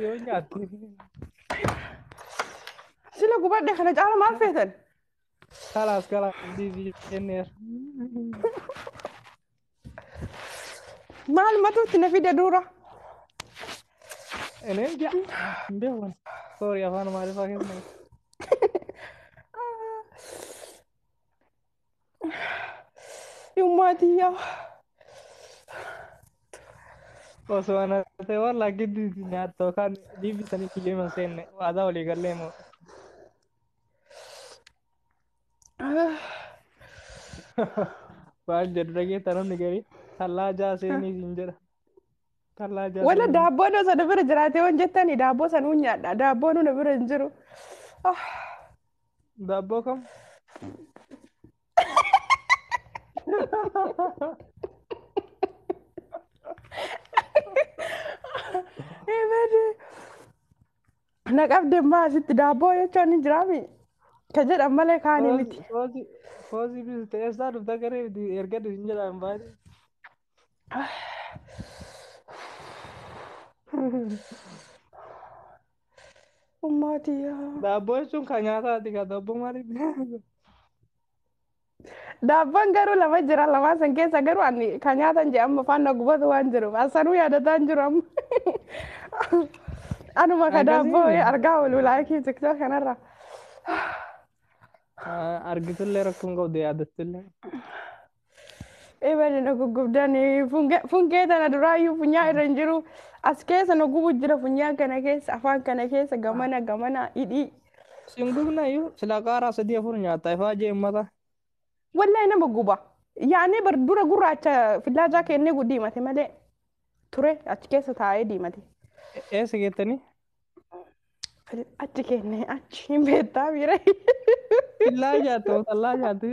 yoo nyaatte. Sila gubadhe kana caala maal feetan? Kalaas kalaas diibii jenneera. Maal matuutti na fide dura? Eneen jaa hin beekan. Soorii afaan maaliifaa keessan. Yummaa tiyyaa. Osoo ana ta'e walla giddu isin nyaatta yookaan biibi sanii kiyyoo himan seenne waadaa walii gallee moo. Waan jedhu dhageetta namni garii tallaa jaa seenii isin jedha. Tallaa jaatama. Wala daabboon osoo na bira jiraatee waan jettani daabboo san uun nyaadha. Daabboon na bira hin jiru. Ah, Daabboo kam? Eebade. Na qabde maa asitti daabboo jechuun hin jiraami. Ka jedhan malee kaanii miti. Foozii foozii bisu ta'e eessaa dhufta garee erga hin jedhaan baay'ee. Ummaatiyaa. Daabboo jechuun kan nyaataati kan daabboo maaliif nyaata? Daabboon garuu lama jira lamaan san keessa garuu ani kan nyaatan jedhe amma faana gubatu waan jiruuf asanuu yaadataa hin jiru amma. Anuma ka Akkasii daabboo miti. argaa oolu laayikii tiktook kanarra. Argitullee rakkoon qabdu yaadattillee. Eebali na guggubdan funkee tana duraayyuu funyaa irra hin jiru as keessa na gubu jira funyaa kana keessa afaan kana keessa gamana gamana hidhii. Sin gubna iyyuu silaa qaaraa sadii afur nyaata ifaa jee ummata. Wallahi nama guba. Yaanee bar dura gurraacha fillaajaa kennee guddiimate malee. ture achi keessa taa'ee diimate. E- Eessa geettanii? Fil- Achi kenne achi hin beektaa miira. Illaa jaattu masallaa jaattu.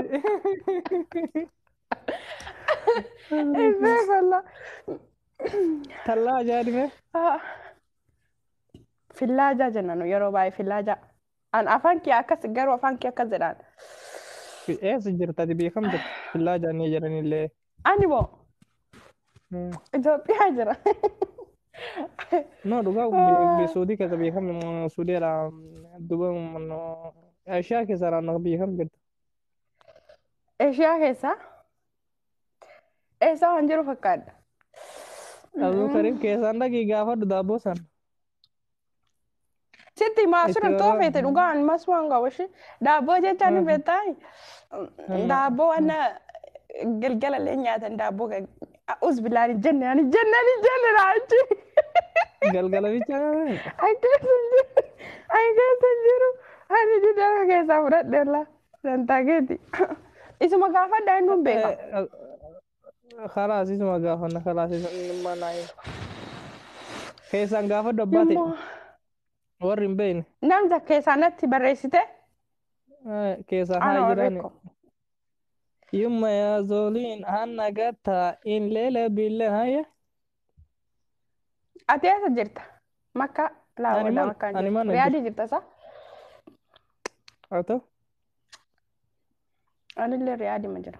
Eebbee falla. Tallaa ajaa'ibee. Fillaajaa jenna nu yeroo baay'ee fillaajaa. An afaan kee akkas garuu afaan kee akkas jedhaan. Eessa jirtati beekamtu? Illaa jaannee jedhanillee. Ani moo Hmm. Itoophiyaa jira. No, dhugaa Wow. suudii keessa beekame suudii irraa duba Eeshiyaa keessa irraa beekame jirtu. Eeshiyaa keessaa eessaa waan jiru fakkaadha. Abdul Karim keessaan dhaqii gaafadhu daabboo sana. Sitti himaa Itti sirri too waraabna. feete dhugaan masumaan qabu ishee daabboo jechaan hin Haa. beektaa Wallaahi. daabboo wanna galgala illee nyaatan daabboo us bilaan hin jenne ani jenne ani jenne raachi Galgala bicha nyaatan. ani keessa hin jiru ani keessa hin jiru ani didara keessaa fudhadhe ollaa dantaa keeti isuma gaafadha inni hin beeka. Kalaasii suma gaafanna kalaasii sun dhimma naa hin. Keessaan gaafadhu abbaa ta'e Nammoo warri hin beekne namta keessaa natti barreessite eh, keessaan haa anoo jiraani. rikko. Yumma yaa zooliin hanna gattaa in leela bille haya. Ati eessa jirta? Makka Ani laawwadha mana makkaan ani jirtu. mana jira. Riyaadii jirta isaa? Haa ta'u. Anillee riyaadima jira.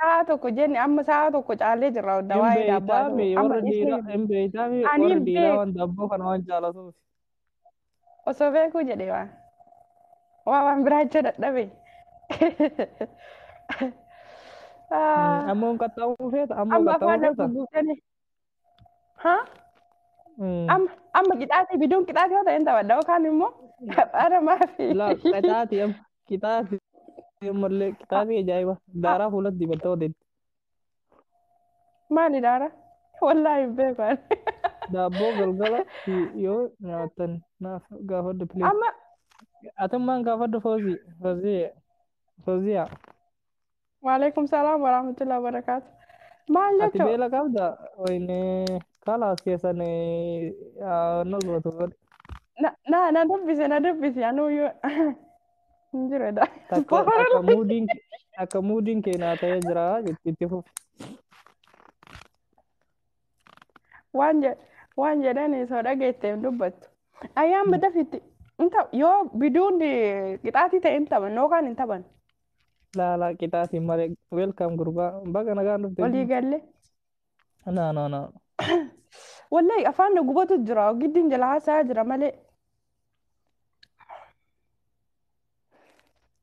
Sa'a tokko jenne amma sa'a tokko caalee jirra hunda Hin waa'ee daabboo beeytaa haasa'u. mi Amma warri dhiisuu dhiiraa hin hin beeytaa mi ani warri hin dhiiraa beeku waan daabboo kana waan jaalatuuf. osoo beekuu jedhee waan waa waan biraa jecha dadhabe. Mm, Ah, Ammoo hin qaxxaamuu feeta ammoo Amma afaan qaxxaamuu na feeta. gugguuftanii Haa? Eh, Amma amma qixaatii biduun qixaatii yoo ta'e hin taphadha yookaan immoo taphaara maafi. Laa qixaati amma qixaati ammallee qixaati ajaa'iba daaraa fuulatti dibattee odeetti Maali daara? Wallaahi hin beekan. daabboo galgala si- yoo nyaatan naaf gaafadhu please. Amma Atummaan gaafadhu foozii foozii fooziyaa. Waalaikum salaam wa rahmatullahi wa barakaatu. Maal Ati jechuun? beela qabda? Wayne kalaas keessan nu gootu godhe. Na na na dubbise na dubbise anuu yoo hin jiru dha. Takka takka muudiin takka muudiin keenyaa ta'ee jira jechuun itti fufi. Waan jedhe waan jedhani soo dhageette hin dubbattu. Ayyaan badafitti yoo biduun qixaatii ta'e hin taphan yookaan hin taphan. Laalaa qixaatiin malee welkaam gurbaa baga nagaan dhufte. Walii galle. Naa naa naa. Wallahi afaan na gubatu jira. Giddiin jala haasaa jira malee.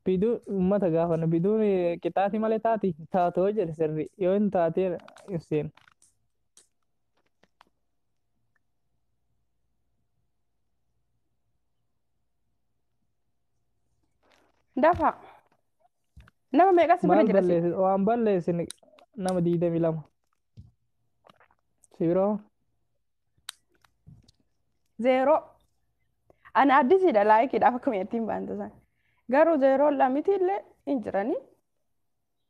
Biduu uummata gaafana biduun qixaatii malee taati taatoo jedhe sirri yoo hin taatee ibseen. Dafa. Nama meeqa si bira Maal jira si? balleessi? Waan balleessine nama digdamii lama. Si biroo? Zeeroo. Ani addisiidha laayikiidhaaf akkuma ittiin baantu san. Garuu zeeroon lamiti illee hin jirani.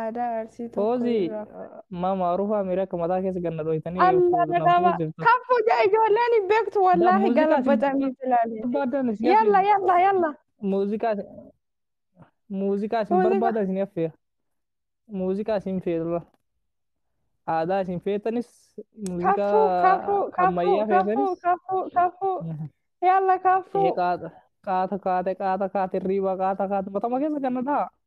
Aadaa arsii tokko Foozii irraa. ma maarufaa miira akka mataa keessa ganna dhooytanii yoo Alla fuudhu nama dhaqaba. fuudhiftu. Kan fuudhaa ijoolleen hin beektu Da wallaahi muuziqaa isin galabaxanii ilaalee. barbaadan isin Yalla affeera. yalla yalla. Muuziqaa isin muuziqaa isin Muuziqaa. barbaadan isin affeera. Muuziqaa isin feetura. Aadaa isin feetanis Kafuu muuziqaa kafuu kafuu ammayyaa kafuu feetanis. kafuu kafuu. Yalla Ee kafuu. qaata qaata kaate qaata kaate riiba qaata kaate matama keessa ganna dhaa.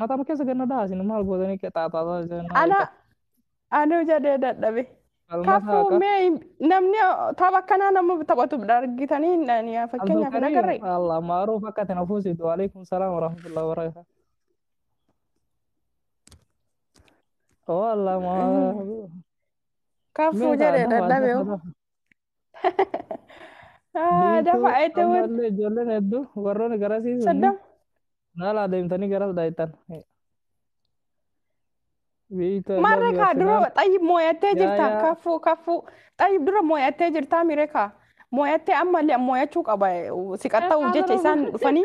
Mataa keessa ganna dhaa isin maal gootanii qexaaxaataa isin ana anuu jedhee dadhabe Falmataa kafuu akka mee hin- namni tapha akkanaa nama taphatu argitanii hin- ani fakkeenyaaf hin Abdulkarim agarre Allah maaruf akka itti na fuusitu waalaikum salaam warahmatullahi wabarakatuh. Oh Allah ma kafuu meeqa jedhee adda dadhabe faajjata Haa, Biiftuu dafa itti amma wud. illee ijoolleen hedduu warroonni garasii sunni Soddom. haala adeemtanii garas dhaaytan. Biiftuu I Maarree love you kaa dura Arsenal. xayyib mooyattee Yaa jirta. yaa Kaffuu kaffuu. Xayyib dura mooyattee jirtaa miiree kaa. Mooyattee ammallee mooyachuu qaba. Siqaxxa'uuf jecha isaan dhufanii.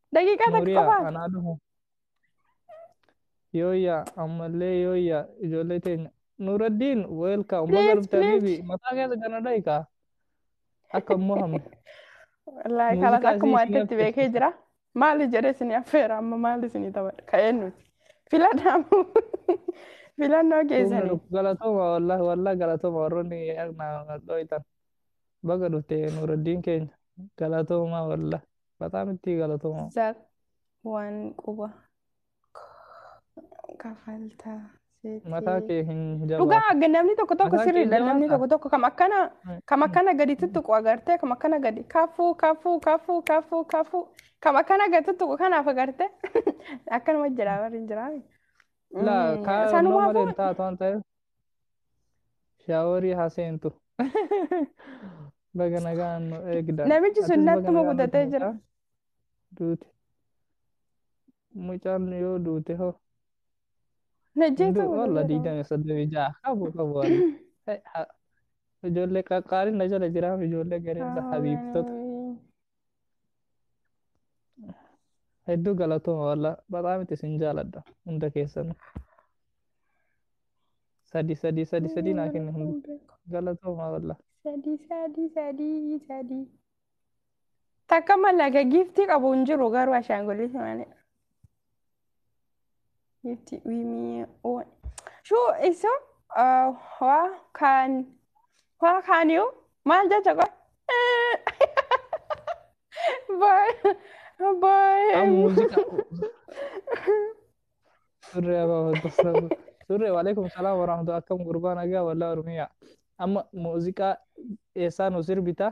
Daqiiqaa takka Nuuriyaa qofaaf. anaa dhufu. Yooyyaa ammallee yooyyaa ijoollee teenya. Nuuraddiin weelkaam baga Please, dhufte please. habiibi mataa keessa gana dhahikaa. Akka hin mohamne. Wallaahi Muuziqaa kalas akkuma isii itti beekee affeerti. jira. Maali jedhee isin affeera amma maali isin taphadha ka'ee nuti. Filadhaamu filannoo Humna keessanii. dhukku galatooma wallahi wallahi galatooma warroonni na dhooytan. Baga dhufte Nuuraddiin keenya. Galatooma wallahi. Bataam itti galatoomaa. Zak waan quba kafalta Mataa seetee. kee hin jabaatu. Dhugaa namni tokko tokko Mataa kee sirriidha jabaata. namni tokko tokko kam akkana kam akkana gadi tuttuqu agartee kam akkana gadi kafuu kafuu kafuu kafuu kafuu kam akkana gadi tuttuqu kanaaf agartee akkanuma jira warri hin jiraame. Laa Mm, kaa sanumaafuu- nama hin taatu waan ta'eef Shaaworii haa seentu. Baga nagaan nu eegda. Namichi sun Atis baga nattuma nagaan gutatee dhufte jira. mucaa. Duute. Mucaan yoo duute hoo. Hin Najjeetu du'u wallah gutatee jira. digdamii soddomii ja'a qabu qabu wallah. Hey, ha- Ijoollee qaqqaaliin na jala jiraam ijoollee gareensa habiibtota. Ameen. Hedduu galatooma walla bataam itti isin jaaladha hunda keessan. Sadi sadi sadi sadi naa kenni hundi galatooma walla. Sadii sadii sadii sadii. Takka mallaqa giiftii qabu hin jiru garuu ashaangullitti malee. Itti wimii oon. Shuu isu waa kaan waa kaan yoo maal jecha qoy. Baay baay. Kan muuziqa. Surree abaa wanta sabu. Surree waalaikum salaam warahmatu akkam gurbaa nagaa wallaa ormiyaa. Amma muuziqaa eessaa nu sirbita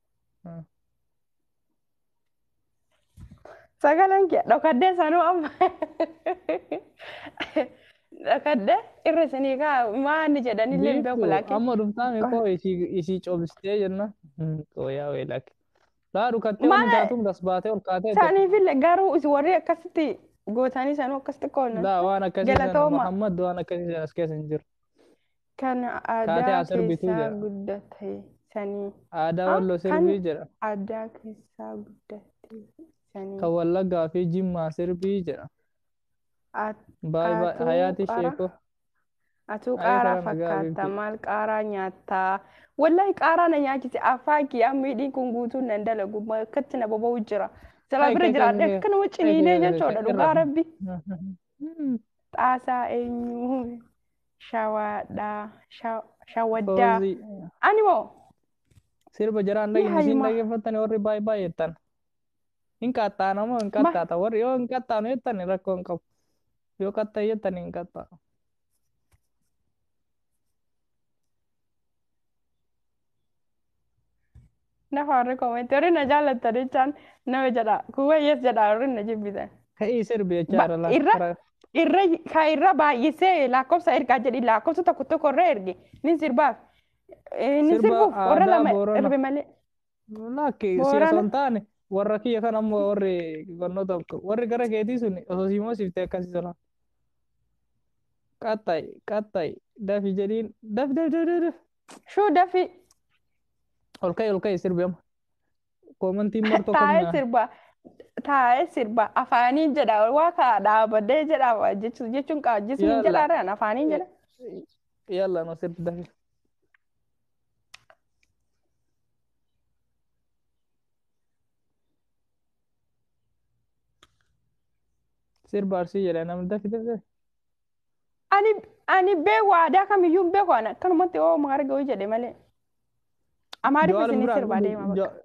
Sagaleen kee dhokaddee sanuu amma dhokaddee irra isinii kaa maanni jedhanillee hin beeku Biiftu laakiin. amma dhuftaame koo isii isii cobistee jenna. Qooyaa wee lakke. Laa dhukattee waan Maala- taatuun gas baatee ol kaatee jette. Isaaniifillee garuu isin warri akkasitti gootanii sanuu akkasitti qoodna. Laa waan akkasii sana Galatooma. Muhammad waan akkasii sana as keessa hin jiru. Kan Taatee aadaa as sirbituu keessaa jedha. guddate sanii. Aadaa Ah, Walloo kan sirbii jedha. aadaa keessaa guddate sanii. Kan Wallaggaa fi Jimmaa sirbii jedha. At- Baay baay Atuu hayaati qara. sheekoo. Atuu Ayii qaaraa karaa nagaa fakkaata beektu. maal qaaraa nyaattaa wallahi qaaraa na nyaachise afaan kiyyaa miidhiin kun guutuun nan dalagu ma- akkatti na boba'u jira silaa Hai bira kai kai jiraadhe kai akkanuma kai ciniinee kai kai jechuudha kai dhugaa irraa. rabbi Hmm, Xaasaa eenyu? Shawaadhaa. Sha- Shawaddaa. Foozii. Ani moo? Sirba jaraan Yaa dhagni siin Hayumaa. dhaggeeffattan warri baay'ee baay'eettan. Hin qaxxaana moo hin Ma- qaxxaata? Warri yoo hin qaxxaanu jettan rakkoo hin qabu. Yoo qaxxaa'e jettan hin qaxxaa'u. Lafa warri koomenti warri na jaallatta jechaan nama jedha kuuwwa yes jedha warri na jibbitan. Ka'ii sirbi jechaa Ba- irra irra laafara. irra ka irra baay'isee lakkoofsa ergaa jedhi lakkoofsa tokko tokko irra erge nin sirbaaf Eh, nin Sirba sirbuuf warra aadaa lama Boorana. erbe malee Lakki siya Boorana. osoo hin taane warra kiyya kan ammoo warri barnoota warri gara keetii sun osoo si moosifte akkasii tola. Qaxxayi qaxxayi dafi jedhiin daf daf daf daf daf. Shuu dafi. Ol ka'e ol ka'e sirbi amma. Koomantiin martoo Taa'ee qabna. sirba. Taa'ee sirba. Afaaniin jedha. Waa kaa dhaabadee jedha. Jechu- Jechuun qaa jismiin Yalla. jedha raan afaaniin jedha. Yalla no sirbi dafi. Sirba arsii jedha namni dafi dafi. dafi. Ani ani beeku aadaa kamiyyuu hin beeku ana akkanumatti oo maarga ho'i jedhe malee. Amaariffa Jawaar isinii biraan sirbaa deema bakka.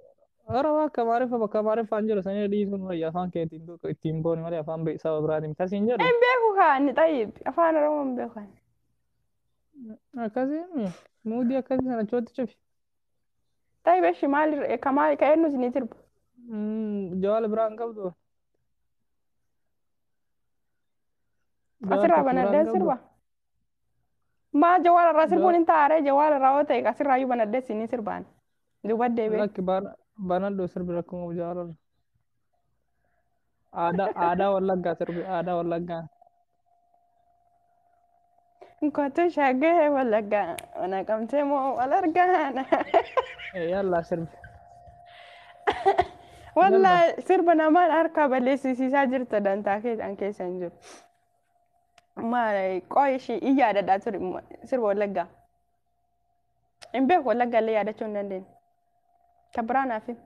Ora bakka amaariffa bakka amaariffaan jiru sanii dhiisuun wayya afaan keetiin tokko ittiin booni malee afaan be- saba biraatiin miti asiin jedhu Hin beeku kaa inni xayyib afaan oromoo hin beeku ani. akkasiin muudii akkasii sana chootti cufi. Xayyib eshi maal irra- ka maal ka eenyu isinii sirba. Mm, Jawaar biraan qabdu Jawaar Asirraa tokko banadheen biraadhaa sirba. obbo? Maa jawaar irraa sirbuun Jawaar hin taa'aree jawaar irraa yoo ta'e asirraa iyyuu banadhee siin hin sirbaan. Duuba deebi'ee. lakki bana- banadhu sirbi rakkoo qabu Jawaar irra. Aadaa aadaa wallaggaa sirbi aadaa wallaggaa. Kottu shaggee wallaggaa mana qabtee moo wal argaana. Yallaa sirbi. Wallaa sirba namaan harkaa balleessisiisaa jirta dantaa keessan keessa hin jiru. Maal qoy ishii in yaadadhaa ture sirba wallaggaa. Hin beeku wallaggaa illee yaadachuu hin dandeenye. Kan biraa naaf himi.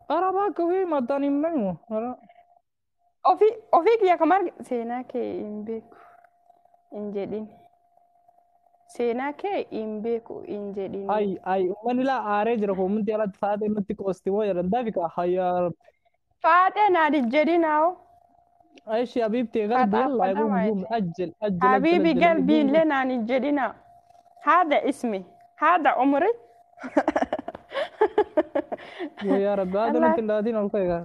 Arabaa kubii mataan hin beeknu. Ofii ofii kiyya kan marge seenaa kee hin beeku hin jedhin. Seenaa kee hin beeku hin jedhin. Ay ay ummanni laa aaree jira koo ummanni alatti faatee nutti qoosti moo jedhan daafi kaa hayyaa rabbi. Faaxee naa dijjedhin haa'oo. Ashi habiibti Faxaa qalbi yalla faxaa gum gum maayete. ajjel ajjel ajjel Habiibi ajjel qalbii gum gum. illee naan hin jedhina. Haada ismi. Haada umri. Yoo yaa rabbi haada Allah. nutti hin laatiin ol ka'e kaa.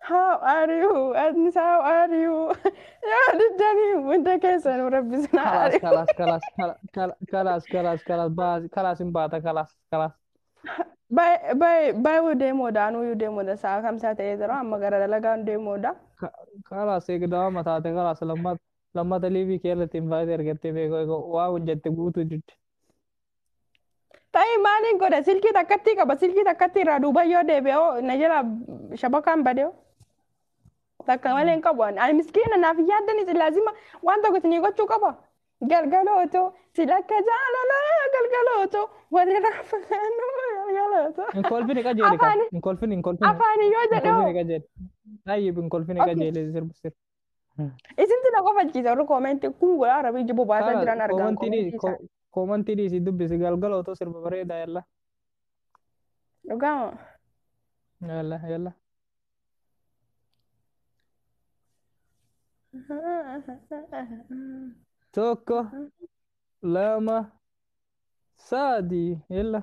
How are you? Atnis how are you? Yoo diddanii hunda keessanuu rabbi isin haa Kalaas ari'u. kalaas kalaas kala- kala- kalaas kalaas kalaas baasi kalaas hin baata kalaas kalaas. Bay bay bayuu deemoodha anuuyyuu deemoodha sa'a kamsaa ta'ee jira amma gara dalagaan deemoodha. Ka- Kalaas eegdama mataate kalaas lammata lammata liivii kee irratti hin baate ergattee beekoo eegoo waa hojjette guutuu jirti. Ta'ee maaliin godha silkii takkatti qaba silkii takkatti irraa duuba yoo deebi'oo na jala shabakaan badee takka malee hin qabu ani miskiina naaf hin yaaddani silaasima waan tokko isinii gochuu qaba galgalooto silakka jaalala galgalooto walirraa fagaannu galgalooto Hin kolfine qajeele ka. Afaani- Hin kolfine hin kolfine. afaani yoo Hin kolfine jedhoo qajeele. Ayyib hin kolfine Okay. qajeele sirba sirba. Isintu na kofalchiisa warri koomentii kun godhaa rabii jibbu baasaa Kaala jiran argaan koomantii koomentii dhiisi isaanii. koomantii dhiisi dubbisi galgala otoo sirba bareedaa yalla Dhugaa moo? yalla yalla. Tokko lama sadii yalla.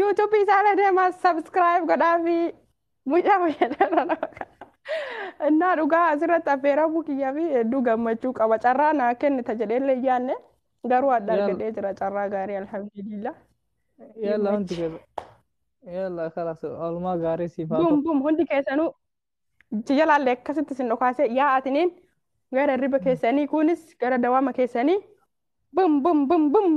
YouTube isaanii deemaa subscribe godhaafi mucaa fayyadamaa nama kana. Innaa dhugaa asirratti affeeramuu kiyyaa fi hedduu gammachuu qaba. Carraa naa kennita jedhee illee hin yaadne garuu adda Yalla. argadhee jira carraa gaarii alhamdulillah. Yalla hundi Yimmachi. keessa. Yalla kalas oolmaa gaarii siif haa ta'u. Bum bum hundi keessanuu si jalaallee akkasitti sin dhokaasee yaa atiniin gara hirriba keessanii kunis gara dawaama keessanii bum bum bum bum.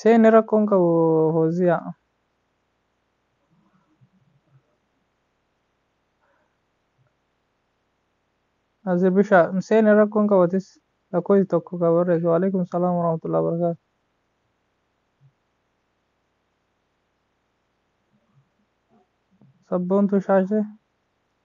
Seenne rakkoon qabu Hooziyaa. Azir Bishaa seenne rakkoon qabatis lakkoofsi tokko kan barreessu. Waalaikum salaam warahmatullahi wabarakatuh. Sabboontuu shaashee.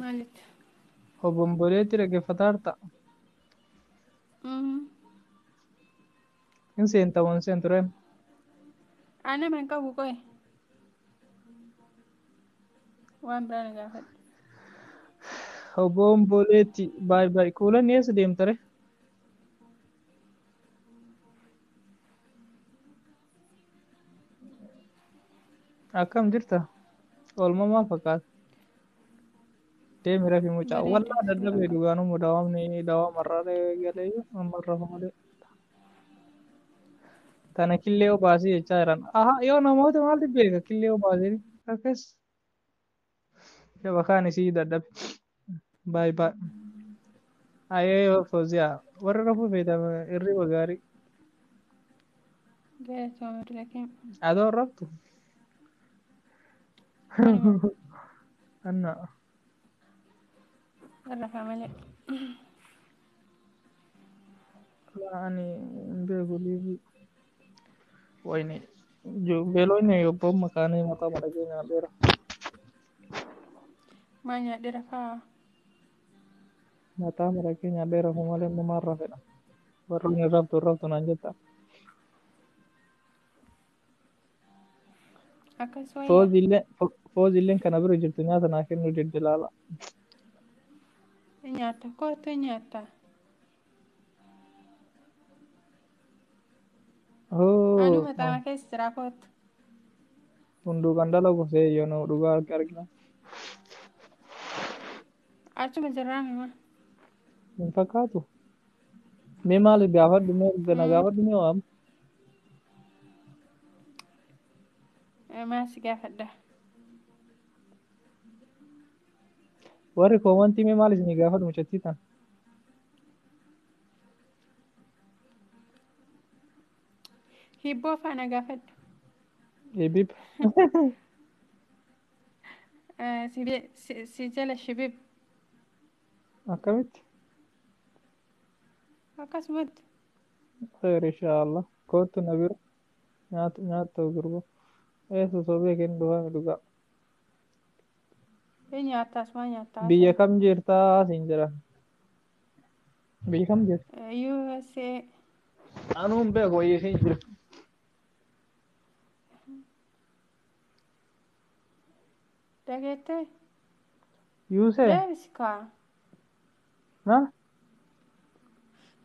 Maalitti? Obomboleetti dhaggeeffataarta. Mhm. Hin seenta moo hin seentu rem. Haa nama hin qabu qoye. Waan biraa na gaafadhu. Obomboleetti baay baay kuulan eessa deemta re? Akkam jirta? Oolmamaa fakkaata. Deemi rafi mucaa. Bareeda Wallaa jira. dadhabee dhugaan immoo dawaamni dawaama irraa galee amma irra malee. Tana killee obaasii jechaa jiran. Aha yoo namoota maaltu beeka killee obaasii akkas. Shabakaan isii dadhabe. Baay baay. Ayee yoo fooziyaa. Warra rafuu feetan irriba gaarii. Galatooma dila keenya. Adoo hin raftu. Anuma Anna. irrafa malee. Laa ani hin beeku liivii. Wayne beelooyne yobboon makaanii mataa madhagee nyaadheera. Maa nyaadheera kaa. Mataa madhagee nyaadheera kun malee inni maal rafedha. Warroon hin raftu hin raftu naan jetta. Akkas wayya. Fooziillee fooziilleen kana bira jirtu nyaata naa kennuu didde laala. Nyaatta koottu nyaatta. Anuu Oh, maxaama keessa jiraa koottu. hunduu kan dalagu seeyyoon dhugaa harka argina. Achuma jirraa mima. Hin fakkaatu. Mee maal gaafadhu mee erga na gaafadhu mee waam. Maal si gaafadha? Warri koomantii mee maal isinii gaafadhu mucattii tan? Hibboo faana gaafadhu. Hibib. Eh, si je- si- Si jala shibib. Akkamitti? Akkasumatti. Khayr inshaallah. Kootu na bira. Nyaata nyaata gurba. Ee sosobee kennu dhufaa dhugaa. Ni nyaatta asumaa nyaatta haasa'e. Biyya kam jirtaa siin jira. Biyya kam jirta? USA Anuu hin beeku wayii siin jira. dhageettee Yuusee. deebisi kaa. Maal?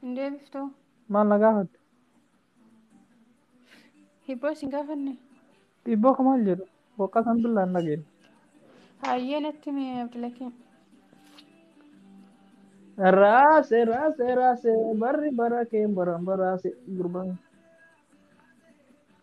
Hin deebiftu. Maal na gaafatte? Hibboo isin gaafanne. Dhiibboo ka maal jedhu? Boqqaa san billaa hin dhageenye. Hayyee natti himi Abdulakiim. Raase raase raase barri bara keen baran baraase gurbaan.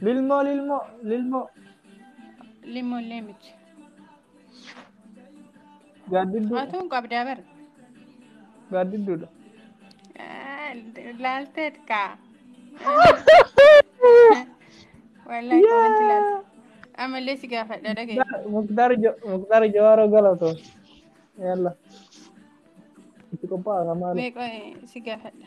Lilmoo lilmoo lilmoo. Lilmoo illee miti. Gaaddidduu Atuun qabdaa bara. gaaddidduudha. Laalteet kaa. Wallaahi komanti laalte. Amallee si gaafadha dhagaye. Muktaar Jo- Muktaar Jawaaroo galatoo. Yalla. Itti qophaa'aa maali? Meeqa si gaafadha.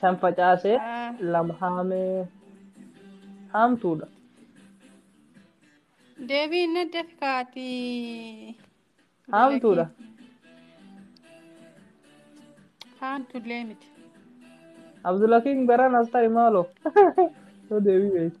shan facaase Ah. lama haamee haamtuudha Deebii inni adda fikaati. haamtuudha Haamtullee miti. abdulakiin garaan as ta'i maaloo yoo deebii beektu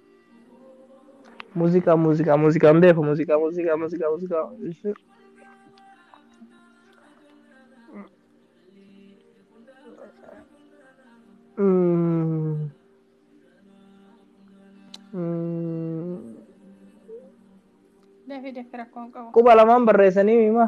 Muuziqaa muuziqaa muuziqaa hin beeku muuziqaa muuziqaa muuziqaa muuziqaa. Mm. Mm. Dafii dafii rakkoon qabu. Quba lamaan barreessanii hima.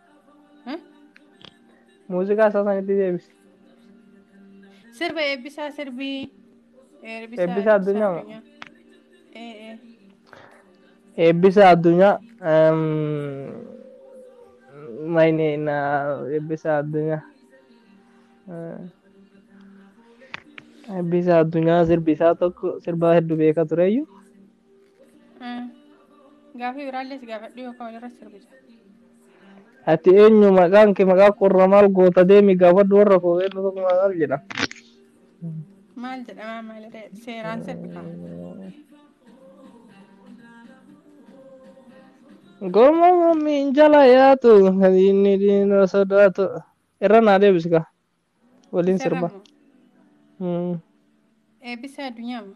Muuziqaa isaa sanitti deebisi. Sirba eebbisaa sirbii. Eebbisaa Eebbisaa Addunyaa moo? addunyaa. Ee ee. Eebbisa addunyaa. ehm, Mayne na eebbisa addunyaa. Eh, Eebbisa addunyaa sirbi isaa tokko sirba hedduu beeka tureyyuu. Mm. Gaafii biraallee si gaafadhu yookaan walirra sirbita. Ati eenyu maqaan kee maqaa qorra maal goota deemi gaafadhu warra koo eenyu tokko maal jedha. Maal jedhama maaliree seeraan sirbita. Goma mammiin jala yaatu kan inni diina sodaatu. Irra naa deebisi kaa. Waliin sirba. Saramo. Mm. Eebbisa addunyaa moo?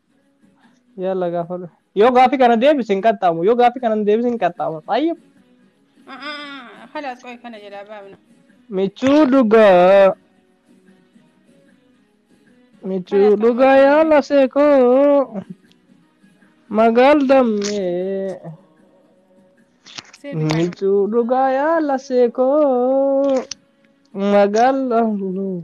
Yalla gaafadhu. Yoo gaaffii kana deebise hin qaxxaamu. Yoo gaaffii kana hin deebise hin qaxxaamu. Xayyib. A'aa, Kalaas qoy kana jedhaa baafna. Michuu dhugaa. Michuu Kalaas kan dhugaa yaa barbaadne. lasee koo. Magaal dammee. Seebi kaadhu. Michuu dhugaa yaa lasee koo. Magaal dammee.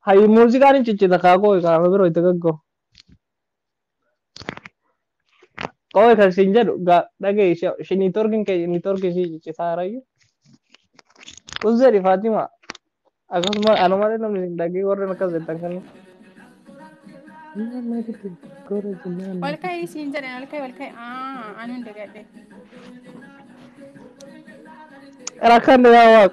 Hayi muuziqaan hin ciccita kaa qooyi kaa amma biroo itti gaggoo. Qooyi kan siin jedhu gaa dhagayi ishee niitoorkiin kee niitoorkii ishii ciccitaa harayyu. Uzzeedhi Faatima akkasuma ana malee namni hin dhagee warreen akkas jettan kan. Ol ka'ii siin jedhan ol ka'ii ol ka'ii. Aa anu hin dagadhe. Rakkanne yaa waaq.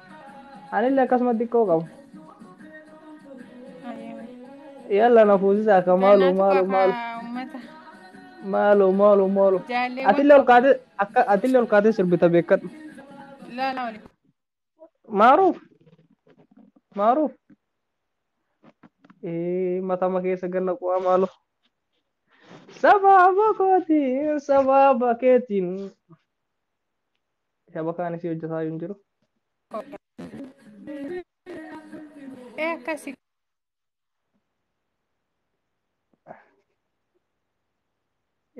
Anillee akkasuma xiqqoo qaba. Ayyoo. Yalla na fuusisa akka maaloo Gannaatu maaloo qafa maaloo uummata. maaloo maaloo maaloo. Jaalleewwan Atillee ol qabu. kaatee akka atillee ol kaatee sirbita beekadhu. Ilaalaa waliin. Maaruuf maaruuf. Ee matama keessa ganna qo'aa maaloo. Sababa kootiin sababa keetiin Kitaba kaan isii hojjetaa hin jiru. Ee akkasi.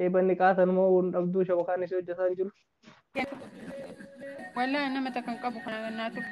Eebanni qaatan moo hin dhabduu shaba kaan isii hojjetaa hin jiru. Walaa nama takka hin qabu kana naa tuqe.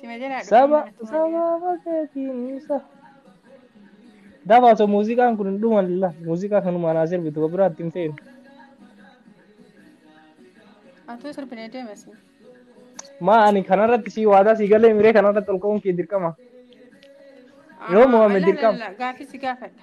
Sima jalaa dhufanii Saba mana tumaa deema. saba fakeetiin sa. Dafa osoo muuziqaan kun hin dhuman la muuziqaa kanumaan haa sirbitu ka biraatti hin feenu. Atuu sirbinee deemasi. Maa ani kanarratti sii waadaa sii galee miree kanarratti ol ka'uun kee dirqama. Yoo mo'ame dirqama. Gaafii si gaafadha.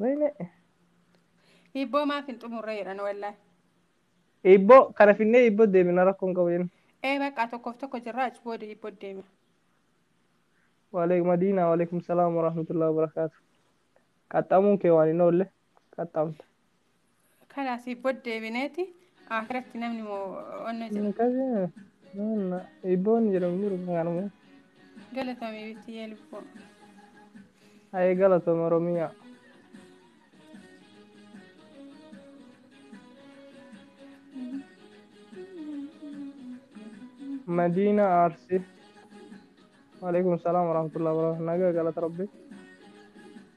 Wayne. Hibboo maaf hin xumurre jedhan wallahi. Hibboo kana finnee hibboo deemina rakkoo hin qabu jenna. Ee baqqaa tokkoof tokko jirra achi booda hibboo deema. Waaleekum Madiinaa waaleekum salaam warahmatullahi wabarakaatu. Qaxxamuun kee waan hin oolle qaxxamta. Kana asii booda deebineeti akiratti namni moo onnee jira. Akkasii maanna iboon jedhamu jiru kanuma. Galatoomi bittiyee lubbuu. Ayee galatoom Oromiyaa. Madiina Aarsi. Waalaikum salaam warahmatullahi wabarakatuh. Nagaa galata rabbi.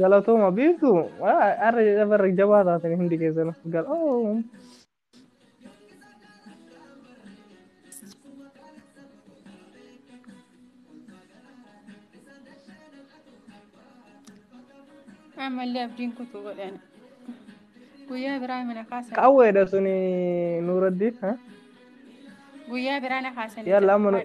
Galatooma beektu arra jedha barra jabaa taatan hundi keessan galatoom. Ammallee abdiin kutuu godhan. Guyyaa biraa mana kaasan. Qawweedha suni nuuraddiin. Guyyaa biraa na kaasan. Yalla amma nu-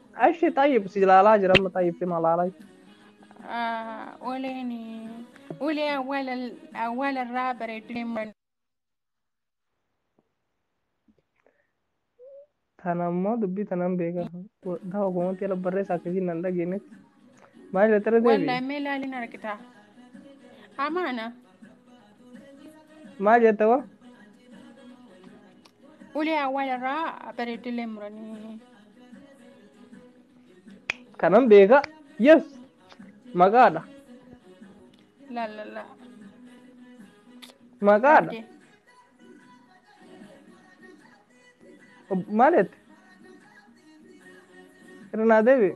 Ashi xayyib si ilaalaa jira amma xayyib si malaalaa jira. Ah, uleen ulee awwaala awwaala irraa bareedduu deeman Tana immoo dubbii tanaan beekaa. Dawa komantii ala barreessaa akkasiin nan dhageenyetti. Maal irratti irra deebi'e? Wallahi mee laaliin argitaa. Amaana. Maal jetta hoo? Ulee awwaal irraa bareedillee muranii. Kanan beeka. Yes. Maqaadha. Laalala. Maqaadha. Bareedee. Ob- Maal jette? Irra naa deebi'e.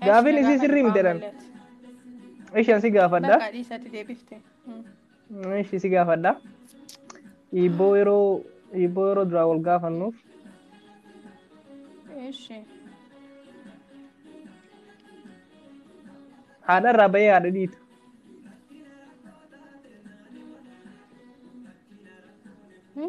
Ash Gaafin na isii gaafadhu sirrii miti jedhan. qaamoolee ati. Ishi an si gaafadha. Bakka dhiisatti deebifte. Mm. Ishi si gaafadha. Hiibboo yeroo hiibboo yeroo duraa wal gaafannuuf Ishi. haadha irraa bahee haadha dhiita. Hmm?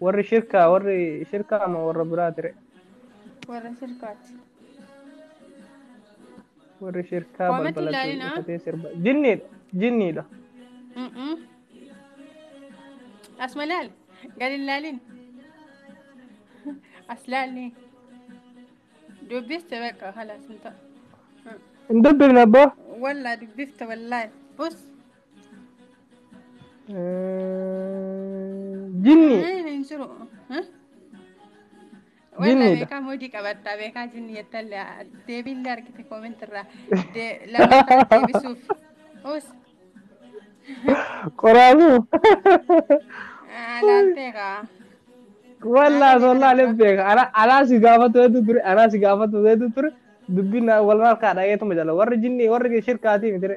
Warri shirkaa warri shirkaa ama warra biraati re. Warra shirkaati. Warri shirkaa Waamatti balbala ilaalina. cufatee sirba. Jinniidha. Jinniidha. Mm-mm. As malaal. Gad hin laalin. As laalni. Dubbiste bakka halas hin ta'a. Hin dubbifne abbaa. Wallaa dubbifte wallaahi. Us. Jinni. Hin jiru. Walla Jinniidha. beekaa moodii qabadhaa beekaa jinni jettalle deebiillee argite koomentirraa lammataa deebisuuf. Us Qoraasu. laaltee kaa. Walla Haala sollaa beekan dura. beeka. Ana anaa si gaafatu hedduu ture. Anaa si gaafatu hedduu ture. Dubbiin na- wal harkaa dhageetuma jala. Warri jinni warri shirkaatii miti.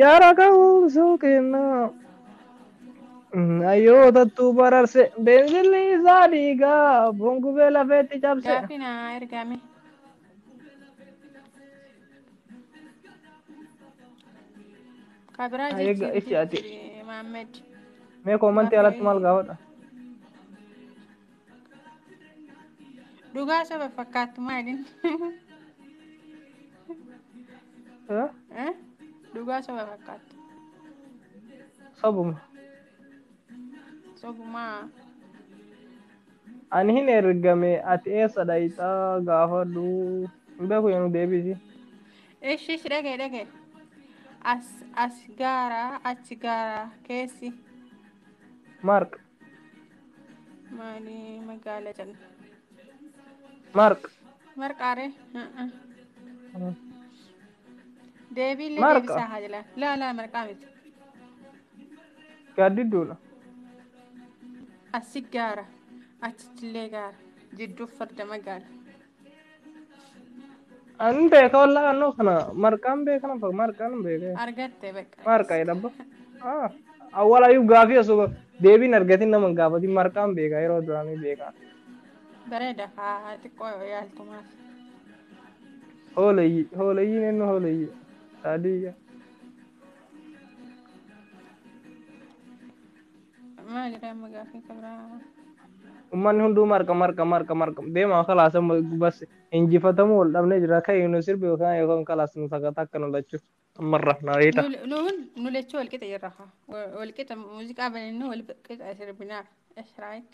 Yaa lakkoofsuu kennaa hayyootattuu bararse beenzilli isaa dhiigaa foon gubee lafeetti cabse. Gaafii na ergaame. Ka biraa Egaa jijjiiri itti ati jijjiiri Maammed. mee koomantii Gaafii alatti maal gaafadha? Dhugaa soba fakkaattu maaliin? Eh? Eh? Dhugaa soba fakkaattu. Sobuma. Sobumaa. Ani hin ergame ati eessa dhayxa gaafadhu. Hin beeku yoo nu deebisi. Ishi ishi dhagaye dhagaye. As as gaara achi gaara keessi. Mark Maali magaala jenna. Mark. Marqaaree. Deebiillee Marqa. deebisaa haa jala. Laa laa marqaa miti. Gaaddidduudha. Asi gaara. Achittillee gaara. Jidduuf farda magaala. An beeka wallaa annoo kana marqaan beeka nan fakka marqaan hin beeka. Argatte bakka. Marqa jedhabba. Ah awwaal ayuu gaafii osoo deebiin argatin nama hin gaafatin marqaan beeka yeroo duraanii beeka. Bareeda kaa xiqqoo yaaltumaaf. Hooleyyii hooleyyiin eenyu hooleyyii saadiyya. Maali kaa amma gaaffii kan biraa? Ummanni hunduu marqa marqa marqa marqa deemaa kalaas amma bas injifatamuu wal dhabnee jira ka'ii nu sirbi yookaan yookaan kalaas nu sagataa akka nu lachuu ammarra na beekta. Nu nu hun- nu lachuu wal qixa jirra kaa. Wa- Wal qixa muuziqaa banannee wal qixa sirbinaaf. Eshraayik.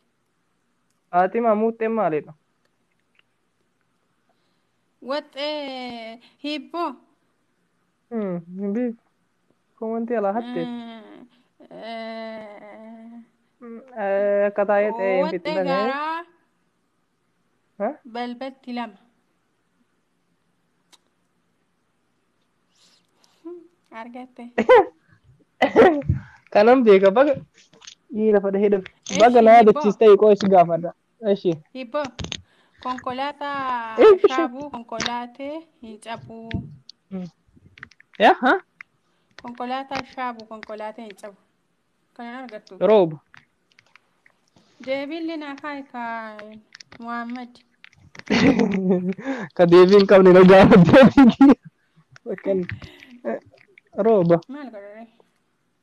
Faatima muuxxeen maalidha? Waxxee hiibboo. Hmm, hin beeku. Komantii alaa hatte. Hmm, eh, Akka taa'ee ta'ee hin Owaxxe fixxan. gaaraa Ha? balbatti lama. Argatte. Kanan beeka baga. Ni lafa dhahee dhabe. Baga Eshi na ni bo. yaadachiis ta'e qoo'is gaafadha. Eshi. Hibboo konkolaataa Eshi. shaabuu konkolaatee hin cabuu. Ya ha? Konkolaataa shaabuu konkolaatee hin cabu. Kanan argattu. Rooba. Deebiin linaa kaayika Muhammad. Ka deebii hin qabne na gaafatte. Bakkan. Rooba. Maal godhare?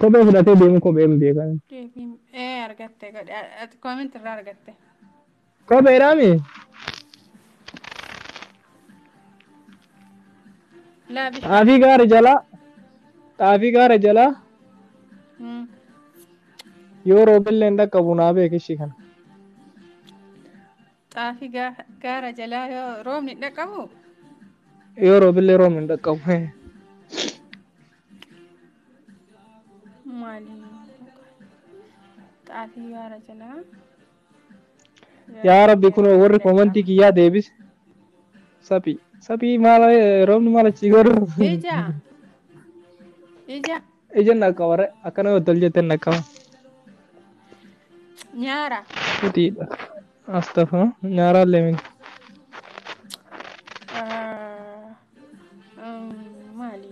Kophee fudhatee deemu kophee hin beekan. Deebiin ee argatte godhe ati koominti irraa argatte. Kopheedhaa mi? Laa bishaan. Xaafii gaara jalaa xaafii gaara jalaa Mm. yoo roobellee hin dhaqqabu naa beeki ishii kana. Xaafii gaara jalaa yoo roobni hin dhaqqabu. Yoo roobillee roobni hin dhaqqabu. Maali? Xaafii gaara jalaa. Yaa rabbi kun warri koomantii kiyyaa deebis. Saphii. Saphii maal roobni maal achii godhu? Ija. Ija. Ija na qabare akka nama tol jette na qaba. Nyaara. Futiidha. Astafa nyaaraa leemin. Ah, um, Maali?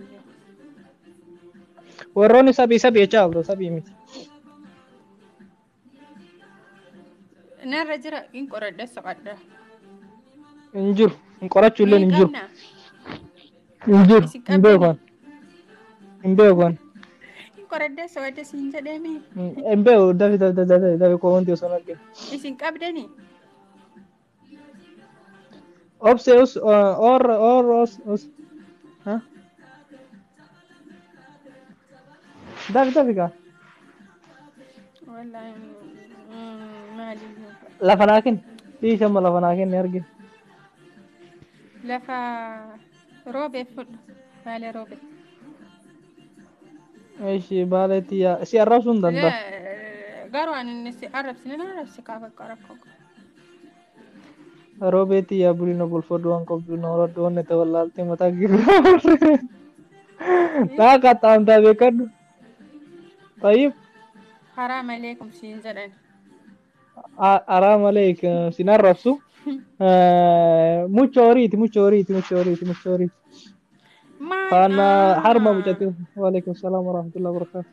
Warroonni sabii sabii jechaa abro sabii miti. Narra jira hin qoradhe soqadha. hin jiru hin qorachuu illee Mee hin jiru qabna hin jiru isin hin qabdani beekan hin beekan hin qoradhe soqadhe siin jedheemi hin beeku dafi dafi dafi dafi komantii osoo hin argin. isin qabdani Obse us uh, or or us us. Huh? Dafi dafi ka. Wallahi mm, maali Lafa naa kenni. Dhiisa amma lafa naa kenni argin. lafa roobe fudhu baale roobe. Ishi baaleetti yaa si arrabsuu hin danda'a. Garuu ani si arrabsine na arrabsi kaa bakka rakkoo. Roobee tiyyaa bulii na bulfadhu waan qabdu na horadhu wanni ta'e wallaaltee mataa gibiraa warree. Naa qaxxaamtaa beekadhu. Tayyib Haraa malee kun siin jedhan. a- araa malee k- sin arrabsu. Eh, Mucha horiiti mucha horiiti mucha horiiti mucha horiiti. Maal? Faana harma mucatti. Waalaikum salaam warahmatullahi wabarakatuh.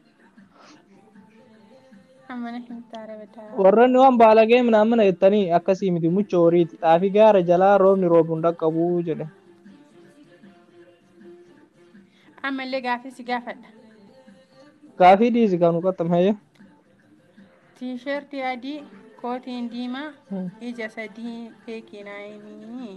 Amana himtaa rebetaa. Warroonni waan baalagee minaamina jettanii akkasii miti mucha horiiti. Xaafii gaara jalaa roobni roobu hin dhaqqabu jedhe. Amma illee gaafii si gaafadha. Gaafii dhiisi kan nu qaxxame hayyee. Tiishartii adii, kootiin diimaa, ija sadii beekii naa himii.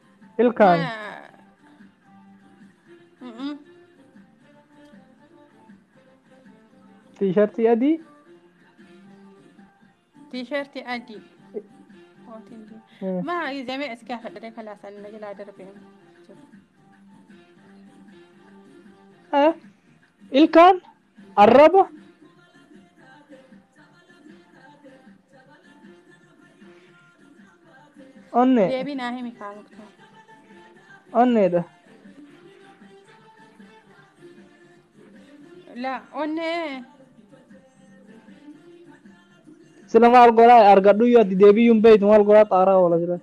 Ma Ilkaan mm-mm. tiishartii adii tiishartii adii kootiin diimaa. Mm. Ma izamee as gaafadhee kalaasan na jalaa darbee. Eh, ilkaan Arraba onnee Deebii naa himi kaa muktaar. onneedha. La onnee Sila maal godhaa argadhuyyuu ati deebiyyuu hin beektu maal godhaa xaaraa oola jira.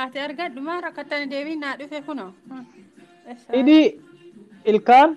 ati argadhu maa rakkattani deebii naa dhufe kunoo. Hmm. Eessa Hidhii ilkaan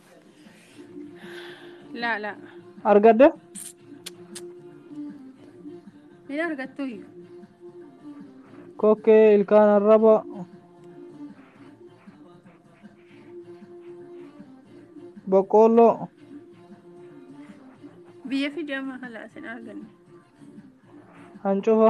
laa laa argadde hin argattuyyu kokkee ilkaan arraba boqqoolloo biyya fidama kalaas hin arganne hancufa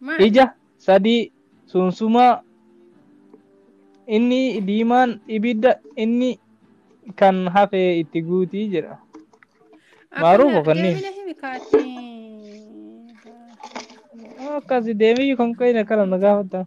Maal? Ija sadii sunsumaa inni diimaan ibidda inni kan hafe itti guuti jedha. Maaruuf Akkana ofanni. deemina himi kaati. Akkasi deemiyyu kan qeeyne kana na gaafatta.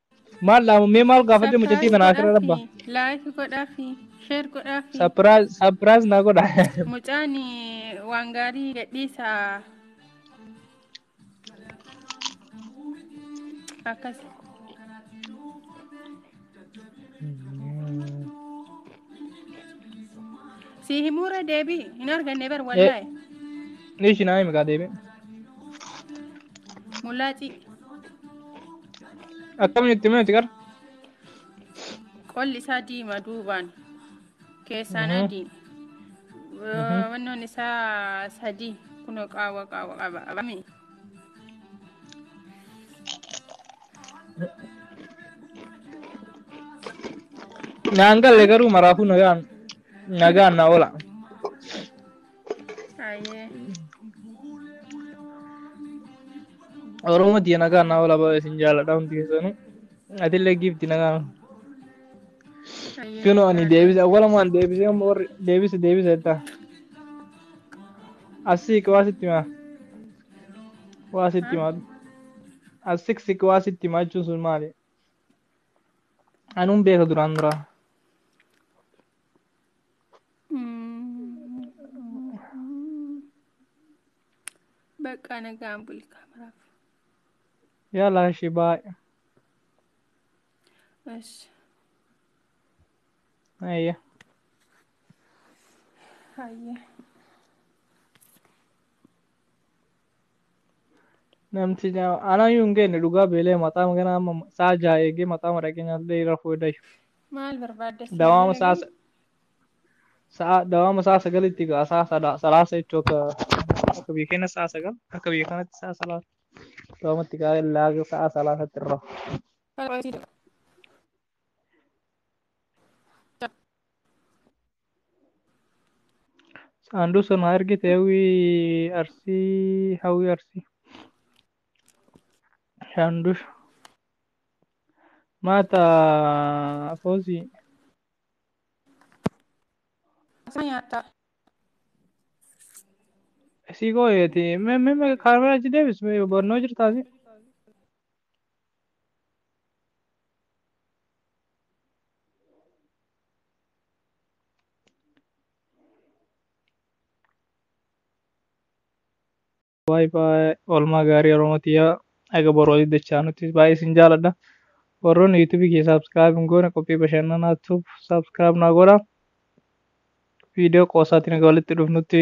Maal dhaamu mee maal gaafadhe mucattii Sapiraayiz tanaa asirra godhaafi. rabba. Laayik godhaafi. Sheer godhaafi. Sapiraaz sapiraaz naa godha. Mucaan waan gaarii gadhiisa. Akkas. Si himuura deebii hin arganne bar wallaahi. Nishi naa himi kaa deebi. Mulaacii. Akkamiin itti himee itti qara? Qolli isaa diima duubaan keessaan Mhm. adii. Mhm. Wannoon isaa sadii kunoo qaawwa qaawwa qaba. Abami. Naan galle garuu maraafuu nagaan nagaan na oola. Hayyee. Oromoo tiyya nagaa naa ola baay'ee isin jaaladha hundi keessanuu. Atillee giifti nagaa. Hayyee Kunoo ani jiraadhaa. deebise awwalumaan deebisee amma warri deebise deebise jettaa. Asii waa sitti himaa. Waa sitti himaa. Asik sik waa sitti himaa jechuun sun maali? Anuun beeka duraan duraa. Baqqaa nagaan buli kaameraaf. Yala shi baay. Eshi. Ayya. Hayyee. Namti nyaama. Anaa iyyuu hin geenye dhugaa beelee maxaama ganaa amma saa jaha eegee maxaama dhaqee nyaatee irra fuudhe dayu. Maal barbaadda si Dawaama saa sa- sa'a dawaama saa sagalitti gaa saa sada- salaasa jechuu akka akka biyya keenya saa sagal akka biyya kanatti saa salaasa dawaamatti gaa laaga sa'a salaasatti irra. Fala Saanduu sana argite hawwii arsii hawwii arsii. Shaandusha. Maata foosii. Isaa nyaataa. Isii gooyeeti. Mee mee mee kaamera achi deebis mee barnoo jirtaasi. baay baay oolmaa gaarii oromootiyaa aga boru walitti dachaa nuti baay'ee isin jaaladha warroonni yuutuubii kee saabskiraayib hin goone qophii bashannanaa tuub saabskiraayib naa godha viidiyoo qoosaatiin aga walitti dhufnutti